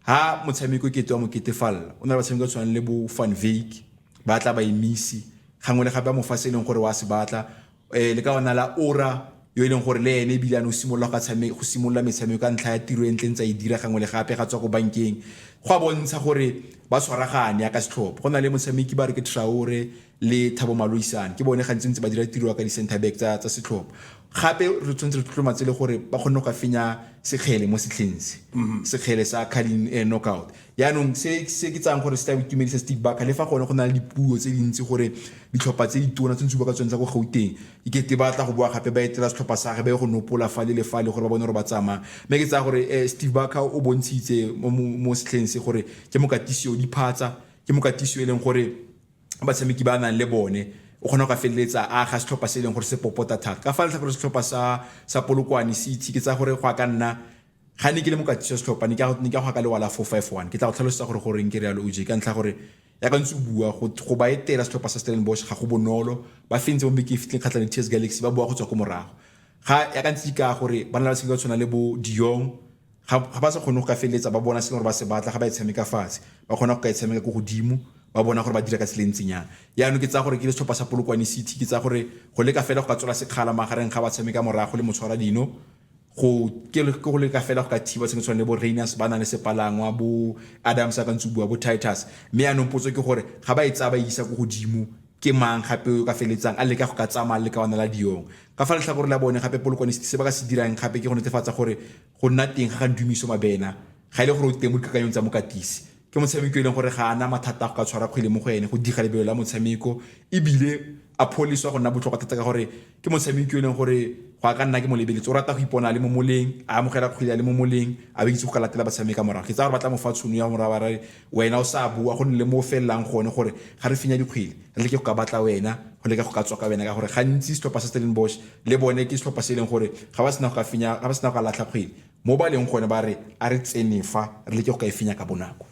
ha motshameko ke twa mokete falla o na le batshameko tshwanang le bo Van Wyk ba tla ba emisi gangwe le gape a mofase e leng gore wa se batla eh le ka ona la ora yo e leng gore le ene ebile a no simolola go tshameka go simolola metshameko ka ntlha ya tiro e ntle ntse e dira gangwe le gape ga tswa go bankeng go a bontsha gore ba tshwaragane ya ka setlhopha go na le motshameki ba re ke Traore le Thabo Maloisane ke bone gantsi ntse ba dira tiro ya ka di-center back tsa, tsa setlhopha gape re tshwanetse re tlotlomatse le gore ba kgonne go ka fenya sekgele mo setlheng se sekgele sa carling eh, knockout yaanong se se ke tsayang gore se tla itumedisa stick baka le fa gone go na le dipuo tse dintsi gore ditlhopha tse ditona tse ntse ba ka tsone tsa ko gauteng ikete ba tla go boa gape ba etela setlhopha sa ge ba ye go nopola fa le le fa le gore ba bone gore ba tsamaya mme ke tsaya gore eh, steve baka o bontshitse mo- mo mo setlheng se gore ke mokatisi o diphatsa ke mokatisi o e leng gore batshameki ba nang le bone o kgona go ka feleletsa a ga setlhopha se e leng gore se popota thata ka fa letlha gore setlhopha sa sa polokwane se itse ke tsa gore go a ka nna ga ne ke le mokatisi wa setlhopha ne ke ne ke go ka lewala four five one ke tla go tlhalosetsa gore gore nke realo o je ka ntlha gore ya ka ntse o bua go ba etela setlhopha sa Stellenbosch ga go bonolo ba fentse mo bekeng e fitleng kgatlha le TS Galaxy ba bua go tswa ko morago ga ya ka ntse ka gore ba na le ba se ba tshwana le bo Dion ga ba sa kgone go ka feleletsa ba bona se gore ba se batla ga ba e tshameka fatshe ba kgona go ka e tshameka ko godimo ba bona gore ba dira ka tsela e ntseng yang yaanong ke tsaya gore ke le setlhopha sa polokwane city ke tsaya gore go leka fela go ka tswela sekgala magareng ga ba tshameka morago le motshwara dino go ke go leka fela go ka thiba sengwe tshwane le bo rainers ba nang le sepalangwa bo adams a ka ntse bua bo titus mme yaanong potso ke gore ga ba e tsaya ba isa ko godimo Ke mang gape yo o ka feletsang a leka go ka tsamaya le lekawana la Dion? Ka fa letlhakoreng la bone gape, Polokwanisithi se ba ka se dirang gape ke go netefatsa gore go nna teng ga ga Ndumiso Mabena ga e le gore o teng mo dikakanyong tsa mokatisi. Ke motshameki yo e leng gore ga a na mathata a go ka tshwara kgwele mo go ene, go diga lebelo la motshameko e bile a pholeswa go nna botlhokwa thata ka gore ke motshameki yo e leng gore go a ka nna ke mo lebeletse o rata go ipona le mo moleng a amogela kgwele a le mo moleng a ba itse go ka latela batshameka morago ke tsa gore ba tla mo fa tshono ya morago ba rare wena o sa bua go nne le mo felelang gone gore ga re fenya dikgwele re leke go ka batla wena go leka go ka tswa ka wena ka gore gantsi setlhopha sa Stellenbosch le bone ke setlhopha se e leng gore ga ba sena go ka fenya ga ba sena go ka latlha kgwele mo ba leng gone ba re a re tsenefa re leke go ka e fenya ka bonako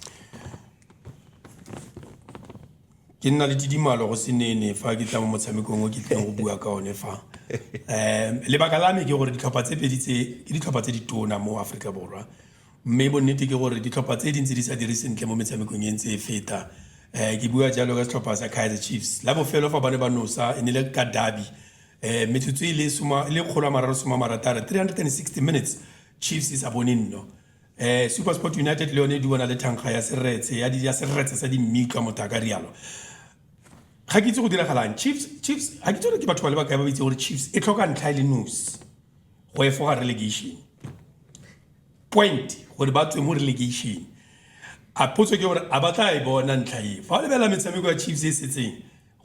ke nna le tidimalo go senene fa ke tla mo motshamekong o ke tlileng go bua ka one fa um lebaka la me ke gore ditlhopha tse pedi tse ke ditlhopha tse di tona mo aforika borwa mme bonnete ke gore ditlhopha tse dintsi di sa dire sentle mo metshamekong e ntse e feta um ke bua jalo ka setlhopha sa kaizer chiefs la bofelo fa ba ne ba nosa e ne le ka dabi um metsotso e le kgolo a mararo soma marataro 360 minutes chiefs e sa bone nno SuperSport United le yone e duana le thankga ya seretse ya di ya seretse sa dimmitla motho a ka rialo ga ke itse go diragalang chiefs chiefs ga ke itse gore ke batho ba le bakae ba itse gore chiefs e tlhoka ntlha e le nosi go efoga relegation point gore ba tswe mo relegation a potso ke gore a ba tla e bona ntlha e fa o lebelela metshameko ya chiefs e setseng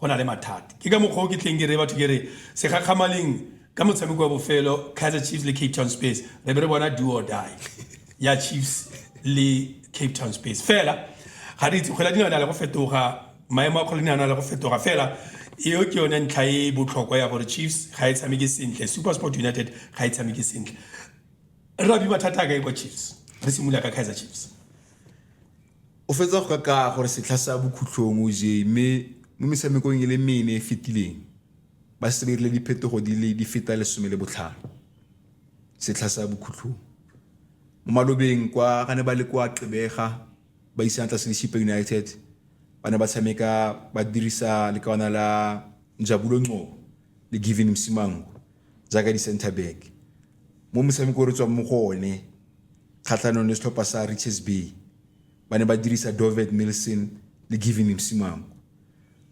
Go na le mathata. Ke ka mokgwa o ke tleng ke reye batho ke re segakgamaleng ka motshameko wa bofelo Kaizer Chiefs le Cape Town Space re be re bona do or die ya Chiefs le Cape Town Space fela ga re itse kgwele dinao na le go fetoga maemo a kgwele dinao na le go fetoga fela eo ke yone ntlha e e botlhokwa ya gore Chiefs ga e tshameke sentle Supersport United ga e tshameke sentle re abi mathata a kae kwa Chiefs re simolola ka Kaizer Chiefs O fetsa go kakaa gore setlha sa bokhutlhong o jee mme mo metshamekong e le mene e fetileng ba setse ba irile diphetogo di le di feta lesome le botlhano setlha sa bokhutlhong. Mo malobeng kwa ga ne ba le kwa Gqeberha ba isana tlase le Chippa United ba ne ba tshameka ba dirisa lekawana la Njabulo Ngcobo le Givin Msimango jaaka di-center back. Mo motshameko o re tswang mo go one Kgatlhanong le setlhopha sa Richards Bay, ba ne ba dirisa Dovet Milson le Giving Msimang.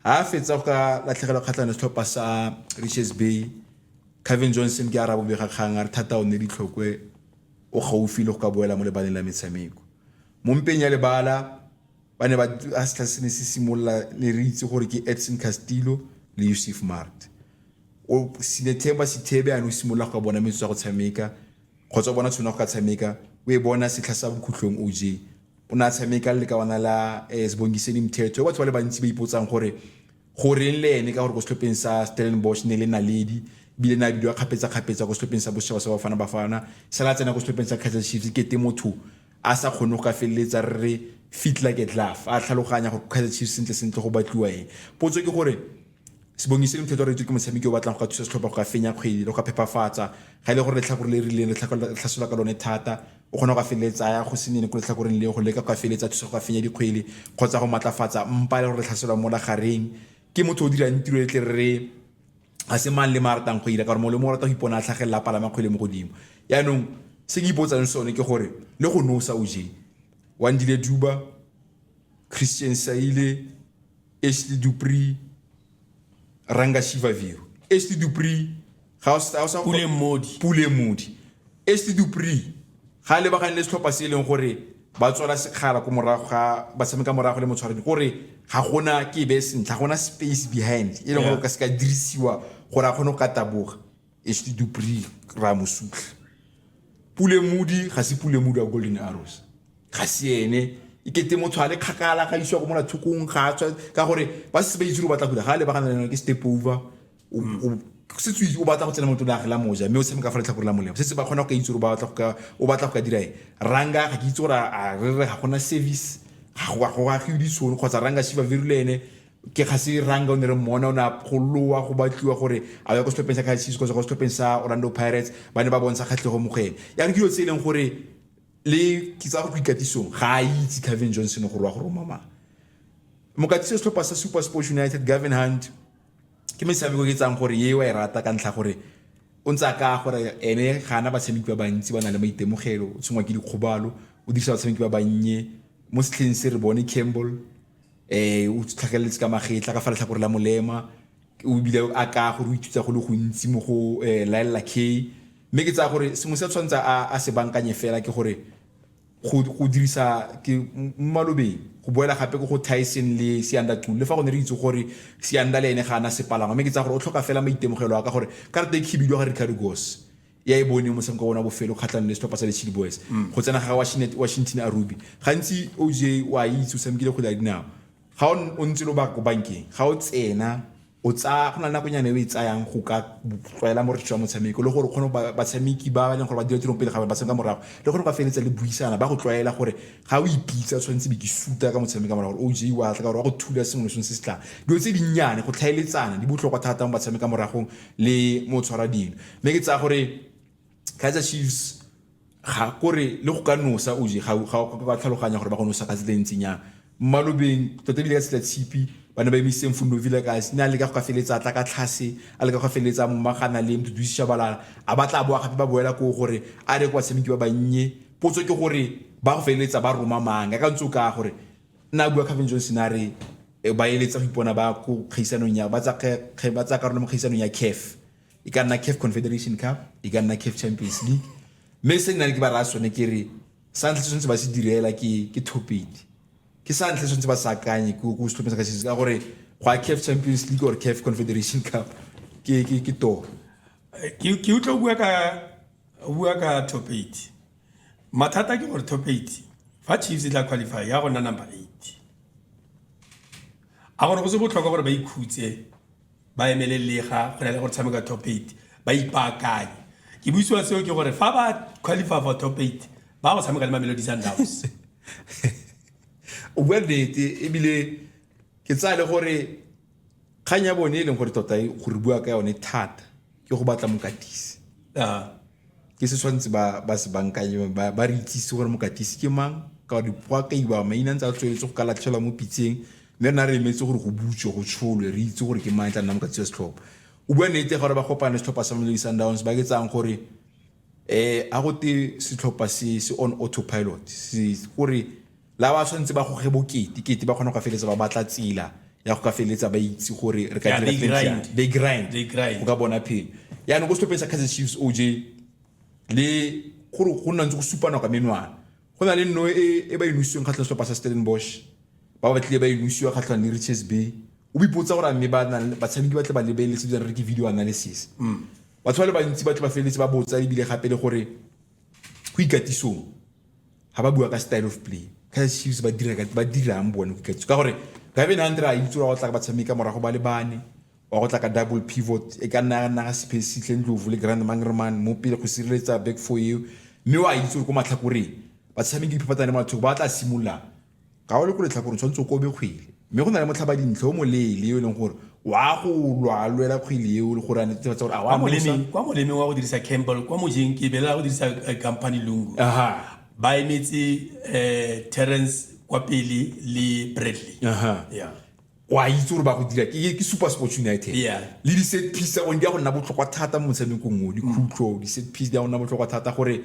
Ha a fetsa go ka latlhegelwa kgatlhanong le setlhopha sa Richards Bay, Cavin Johnson ke a ra bobega kgang a re thata o nne ditlhokwe o gaufi le go ka boela mo lebaleng la metshameko. Mo mpeng ya lebala, ba ne ba a setlha se ne se simolola ne re itse gore ke Edson Castillo le Yusuf Maart. O Sinethemba Sithebe a ne o simolola go ka bona metsotso ya go tshameka kgotsa o bona tshwana go ka tshameka o e bona setlha sa bokhutlhong oj o ne a tshameka le lekawana la um eh, sebongiseni mthetho batho ba le bantsi ba ipotsang gore go reng le ene ka gore ko setlhopheng sa stellenbosch ne le naledi ebile na bidiwa kgapetsa-kgapetsa ko setlhopheng sa bosetšhaba sa bafana bafana sala tsena ko setlhopheng sa kaizer chiefs kete motho a sa kgone go ka feleletsa re re fit like a glove a tlhaloganya gore kaizer chiefs sentle sentle go batliwa eng potso ke gore Sibongiseni Mthethwa re itswe ke motshameki yo o batlang go ka thusa setlhopha go ka fenya kgwedi le go ka phepafatsa ga e le gore letlhakore le rileng re tlhasola ka lone thata o kgona go ka feleletsa ya go se nene ko letlhakoreng leo go leka go ka feleletsa thusa go ka fenya dikgwele kgotsa go maatlafatsa mpa le gore re tlhasola mo lagareng ke motho o dirang tiro e tle re ga se mang le ma ratang go ira ka gore mongwe le mongwe o rata go ipona a tlhagelela a palama kgwele mo godimo yaanong se ke ipotsang sone ke gore le go nosa o je wandile duba christian saile Este do PRI ranga shiva viru. Este do PRI pule modi. Pule modi. Este do PRI ga le bagane le setlhopha se e leng gore ba tswala sekgala ko morago ga ba tshameka morago le motshwaredi gore ga gona ke be sentle ga gona space behind e leng gore o ka se ka dirisiwa gore a kgone go ka taboga Esti du Prix Ramosutlha. Pule Mudi ga se Pule Mudi wa Golden Arrows. Ga se ene e kete motho a le kgakala ga isiwa go mona thokong ga tswa ka gore ba se ba itse go batla go ga le bagana le ke step over o mm. se tswe o batla go tsena motho la gela moja mme o tshameka fa letlhakore la molemo se se ba kgona go itse gore ba batla go ka o batla go ka dira e ranga ga ke itse gore a re re ga gona service ga go ga go ga go ditšhono kgotsa ranga shiva virilene ke ga se ranga o ne re mmona o ne a golowa go batliwa gore a ya ko setlhopheng sa kaizer chiefs kgotsa go setlhopheng sa orlando pirates ba ne ba bontsha kgatlhego mo go ene ya re ke dilo tse e leng gore le ke tsa go ikatisong ga a itse cavin johnson gore wa go roma mang mokatisi setlhopha sa super sports united gavin hunt ke metshameko ke tsang gore ye wa e rata ka ntlha gore o ntse a ka gore ene ga ana batshameki ba bantsi ba na le maitemogelo o tshwengwa ke dikgobalo o dirisa batshameki ba bannye mo setlheng se re bone campbell um o tlhageletse ka magetla ka fa letlhakore la molema o bile a ka gore o ithuta go le gontsi mo go eh, laelela k mme ke tsaya gore sengwe se tshwanetse a se bankanye fela ke gore go dirisa ke mmalobeng go boela gape ko go tyson le seanda tul le fa go ne re itse gore seanda le ene ga ana sepalangwa mme ke tsaya gore o tlhoka fela maitemogelo a ka gore karate e khibidiwa ga ricardo gos ya e bone motshameko wa bona bofelo kgatlhanong le setlhopha sa lechile boys mm. go tsena ga washington a ruby gantsi oj o a itse o tshamekile kgwele ya dinao ga o ntse lo ba ko bankeng ga o tsena o tsaya go na le nakonyana e o e tsayang go ka tlwaela moretso wa motshameko le gore o kgone batshameki ba e leng gore ba dira tirong pele ga ba tshameka morago le gore ba feleletsa le buisana ba go tlwaela gore ga o ipitsa tshwanetse be ke suta ka motshameka morago gore oj wa tla ka gore wa go thula sengwe le sengwe se se tlang dilo tse dinnyane go tlhaeletsana di botlhokwa thata mo batshameka moragong le mo tshwara dino mme ke tsaya gore kaizer chiefs ga kore le go ka nosa oje ga ba tlhaloganya gore ba go nosa ka tsela e ntsinyang mmalobeng tota ebile ka setla tshipi ba ne ba emisitse mfundo vile ka ne a leka go ka feleletsa tla ka tlhase a leka go ka feleletsa momagana le mduduisisha balala a ba tla boa gape ba boela ko gore a re kwa tshameki ba bannye potso ke gore ba go feleletsa ba roma mang ka ntse o ka gore nna bua Calvin Johnson a re eh, ba eletsa go ipona ba ko kgaisanong ya ba tsa karolo mo kgaisanong ya CAF e ka nna caf confederation cup e ka nna caf champions league mme se nna le ke ba raya sone ke re sa ntlha tshwanetse ba se direla ke ke thopedi ke sa ntlha tshwanetse ba sa akanye ke ko setlhopheng sa kashese ka gore go a caf champions league or caf confederation cup ke ke ke toro ke ke utlo bua ka bua ka top 8 mathata ke gore top 8 fa chiefs e tla qualify ya go nna number 8 a gore go se botlhokwa gore ba ikhutse ba emele lega go na le go tshameka top eight ba ipaakanye ke buisiwa seo ke gore fa ba qualify for top eight ba go tshameka le mamelodi sundowns o bua nnete ebile ke tsaya le gore kgang ya bone e leng gore tota e gore bua ka yone thata ke go batla mokatisi ke se tshwanetse ba ba se bankanye ba ba re itsise gore mokatisi ke mang ka gore dipoakaiwa maina ntse a tsweletse go ka latlhelwa mo pitseng mme rena re emetse gore go butswe go tsholwe re itse gore ke mang e tla nna mokatisi wa setlhopha o bua nnete gore ba kopane setlhopha sa Mamelodi Sundowns ba ke tsang gore eh a go te setlhopha se se on autopilot se gore La ba tshwanetse ba goge bokete kete ba kgona go ka feleletsa ba batla tsela ya go ka feleletsa ba itse gore re ka Yeah, dira they things grind. jang. They grind. They grind. go ka bona phelo yaanong ko setlhopheng sa kaizer chiefs oj le gore go nna ntse go supa nako ya menwana go na le nno e e ba e nosiweng kgatlhang setlhopha sa stellenbosch ba ba tlile ba e nosiwa kgatlhang le riches bay o bipotsa gore a mme ba nang le- batshameki ba tle ba lebeletse bjang re ke video analysis batho ba le bantsi ba tle ba feleletse ba botsa ebile gape le gore go ikatisong ga ba bua ka style of play kaizer chiefs ba dira ka ba dirang bone go ikatisa ka gore gabe na ndra itse wa go tla ka batshameka morago ba le bane wa go tla ka double pivot e ka nna nna ga space tle ndlovu le grand mangreman mo pele go sireletsa back for you mme wa itse go matlhakoreng batshameki phapatsa le mathoko ba tla simolola Ga o le ko letlhakoreng tshwanetse o kobe kgwele mme go na le motlhabadintlha o moleele yo e leng gore wa go lwa lwela kgwele eo le gore a netefatsa gore a wa mosa kwa molemeng wa go dirisa campbell kwa mojeng ke bela go dirisa eh, company lungu ba emetse um terrence kwa pele le bradley yeah wa itse gore ba go dira ke super sports united le di-set piece tsa gone di ya go nna botlhokwa thata mo motshamekong o dikhutlo di-set piece di ya go nna botlhokwa thata gore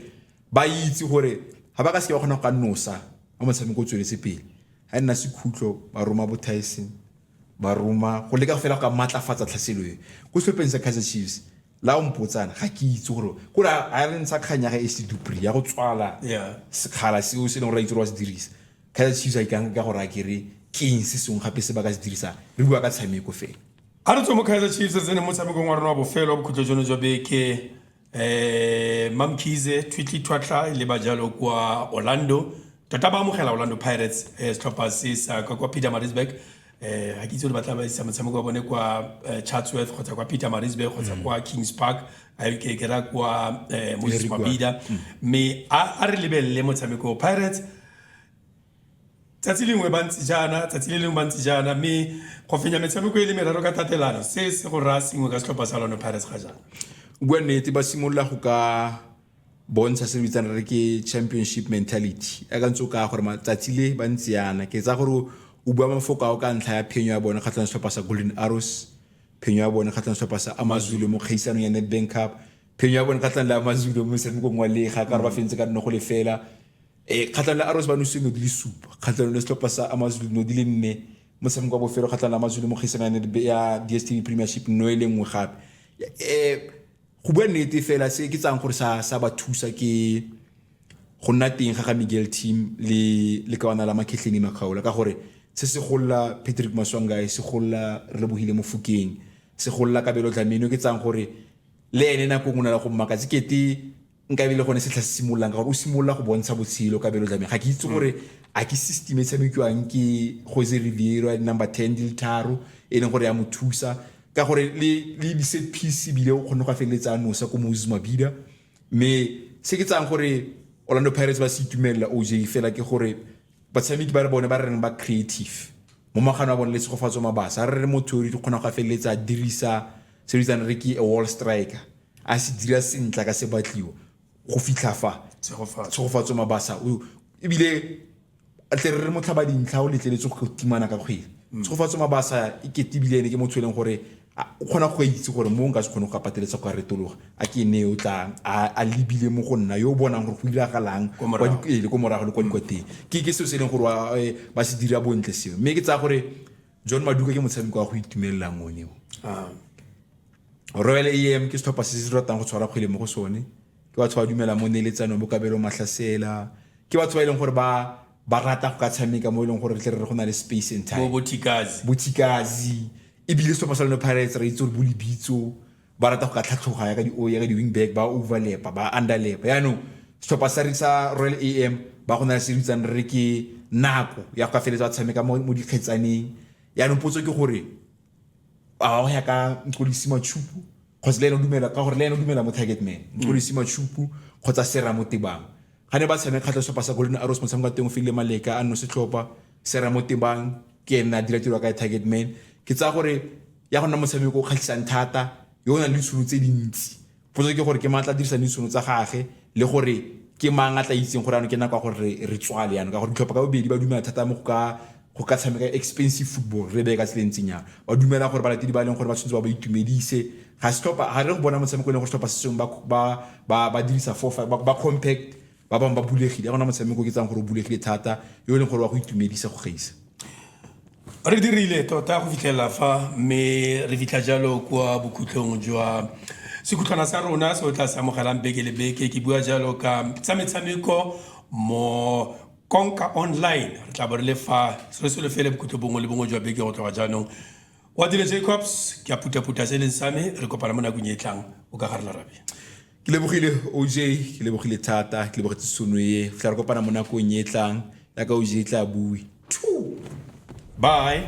ba itse gore ga ba ka seke ba kgona go ka nosa a motshameko o tsweletse pele ga e nna sekhutlo ba roma bo tyson ba roma go leka fela go ka maatlafatsa tlhaselo e ko setlhopheng sa kaizer chiefs la o mpotsana ga ke itse gore kore a re ntsha kgang ya ga ac dupri ya go tswala sekgala seo se e leng gore a itse gore wa se dirisa kaizer chiefs a ikang ka gore a kere keng se sengwe gape se ba ka se dirisang re bua ka tshameko fela a re tswe mo kaizer chiefs re tsene motshamekong wa rona wa bofelo wa bokhutlo jono jwa beke eh mamkhize twitley thwatlha e leba jalo kwa orlando tota ba amogela orlando pirates eh, setlhopha se sa ka kwa peter marisburg eh ga ke itse gore ba tla ba isa motshameko wa bone kwa eh, chatsworth kgotsa kwa peter marisburg kgotsa kwa kings park a e ke kera kwa eh, moses Eric Wa- mabida mme a a re lebelele motshameko pirates Tsatsi lengwe ba ntse jaana, tsatsi le lengwe ba ntse jaana, mme go fenya metshameko e le meraro ka tatelano, se se go raya sengwe ka setlhopha sa Orlando Pirates ga jaana. Bua nnete, ba simolola go ka bontsha se re bitsang re ke championship mentality ya ka ntse o kaya gore matsatsi le ba ntse yana ke tsa gore o bua mafoko ao ka ntlha ya phenyo ya bone kgatlhang setlhopha sa golden arrows phenyo ya bone kgatlhang setlhopha sa amazulu mo kgaisanong ya nedbank cup phenyo ya bone kgatlhang le amazulu mo motshamekong wa lega ka re ba fentse ka nne go lefela e kgatlhanong le arrows ba nose no di le supa kgatlhanong le setlhopha sa amazulu no di le nne motshameko wa bofelo kgatlhanong le amazulu mo kgaisanang ya dstv premiership no e le nngwe gape um go bua nnete fela se ke tsang gore sa sa ba thusa ke go nna teng ga ga miguel team le le kawana la makhetlhene makgaola ka gore se se golla patrick maswangae se golla re lebogile mofokeng se golla kabelo dlameno ke tsang gore le ene nako ngwe na le go mmakatse kete nka e be le gone setlha se simololang ka gore o simolola go bontsha botshelo ka belo jameng ga ke itse gore a ke system e tshamekiwang ke jose riviero ya di-number ten di le tharo e leng gore ya mo thusa ka gore le le di-set piece ebile o kgonne go a feleletsa a nosa ko moses mabida mme se ke tsang gore orlando pirates ba se itumelela oj fela ke gore batshameki ba re bone ba re reng ba creative mo magano a bone le tshegofatso mabasa a re re mo theori di kgona go a feleletsa a dirisa se bitsang re ke a wall striker a se dira sentle ka se batliwa go fitlha fa tshegofatso mabasa o ebile tle re re motlhaba dintlha o letleletse go timana ka kgwele tshegofatso mabasa e kete ebile ene ke motho e leng gore A o kgona go ka itse gore mo nka se kgone go ka pateletsa go ka retologa? A ke ene yo tlang a a lebile mo go nna, yo o bonang gore go diragalang Kwa kwa morago. di- ee, le ko morago le kwa dikwateng. Ke ke seo se e leng gore wa, eh, ba se dira bontle seo. Mme ke tsaya gore John Maduka ke motshameko wa go itumelelang one o. Ah, Royal AM ke setlhopha se se ratang go tshwara kgwele mo go sone ke batho ba dumelang mo neeletsanong bo kabelo mahlasela ke batho ba e leng gore ba ba rata go ka tshameka mo e leng gore re tle re re go na le space and bo time bo thikazi bothikazi ebile setlhopha sa lone pirates re itse gore bo lebitso ba rata go ka tlhatlhoga ya ka di ya ka di wing back ba overlapa ba underlapa yaanong setlhopha sa sa royal am ba go na le se re itsang re ke nako ya go ka feletse ba tshameka mo dikgetsaneng yaanong potso ke gore a go ya ka nkolisi matshupu kgotsa le ene o dumela ka gore le ene o dumela mo target man nkolisi matshupu kgotsa sera mo tebang Ga ne ba tshameka kgatlha setlhopha sa Golden Arrows motshameko wa teng o file Maleka a nno setlhopha se ra mo tebang ke ene a dira tiro ka target man ke tsaya gore ya go nna motshameko o kgatlhisang thata yo o nang le ditšhono tse dintsi potso ke gore ke maatla dirisang ditšhono tsa gage le gore ke mang a tla itseng gore ano ke nako ya gore re tswale yana ka gore ditlhopha ka bobedi ba dumela thata mo go ka go ka tshameka expensive football re beye ka tseleng ntseng yang ba dumela gore balatedi ba e leng gore ba tshwanetse ba ba itumedise ga setlhopha ga re go bona motshameko e leng gore setlhopha se sengwe ba dirisa four five ba compact ba bangwe ba bulegile ya gona motshameko ke tsang gore o bulegile thata yo e leng gore wa go itumedisa go gaisa re dirile tota go fitlhelela fa mme re fitlha jalo kwa bokhutlhong jwa sekhutlhwana sa rona se o tla se amogelang beke le beke ke bua jalo ka tsa metshameko mo Konka Online re tla bo re le fa se se lefele bokhutlho bongwe le bongwe jwa beke go tloga jaanong wa dile jacobs ke a putaputa se e leng sa me re kopana mo nakong e e tlang o ka gare larabe ke lebogile oj ke lebogile thata ke lebogetse sono e go tla re kopana mo nakong e e tlang ya ka oj e tla bue bye